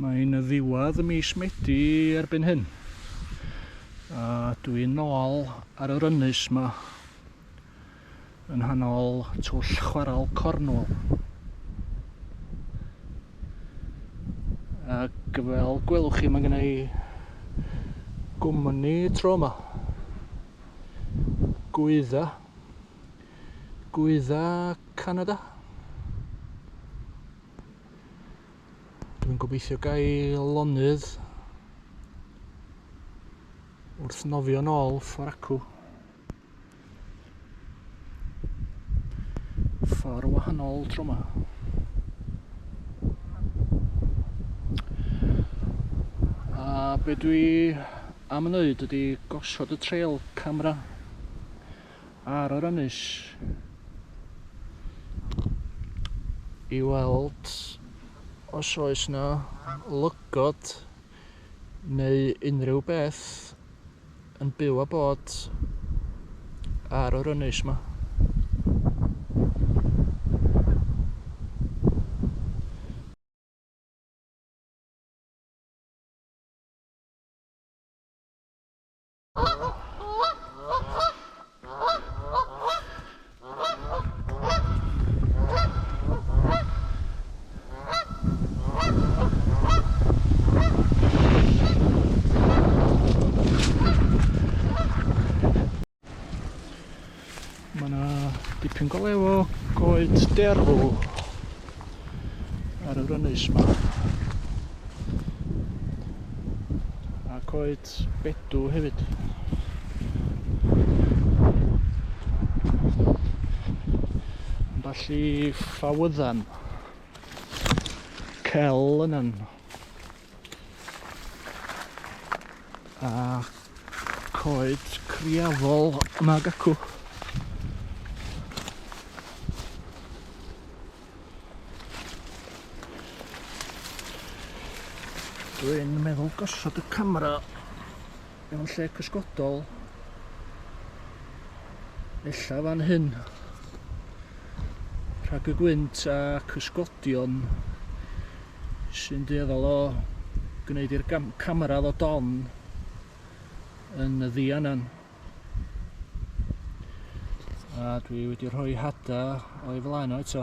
Mae'n ddiwedd mis Medi erbyn hyn. A dwi'n nôl ar yr ynys ma. Yn nghanol twll chwarel Cornwall. Ac fel gwelwch chi mae gennau gwmni tro yma. Gwydda. Gwydda Canada. Dwi'n gobeithio gael lonydd wrth nofio nôl fforacw. Ffordd wahanol tro ma. A be dwi am wneud ydy gosod y trail camera ar yr ynys i weld os oes na lygod neu unrhyw beth yn byw a bod ar yr ynys yma. Mae yna dipyn go lew o goed derw ar yr ynys yma. A coed at Bedw hefyd. Ambell i ffawyddan. Cel yna'n. A coed criafol yma gacw. Dwi'n meddwl gosod y camera mewn lle cysgodol. Ella fan hyn. Rhag y gwynt a cysgodion sy'n dueddol o gwneud i'r camera ddod on yn y ddianan. A dwi wedi rhoi hada o'i flaen o eto.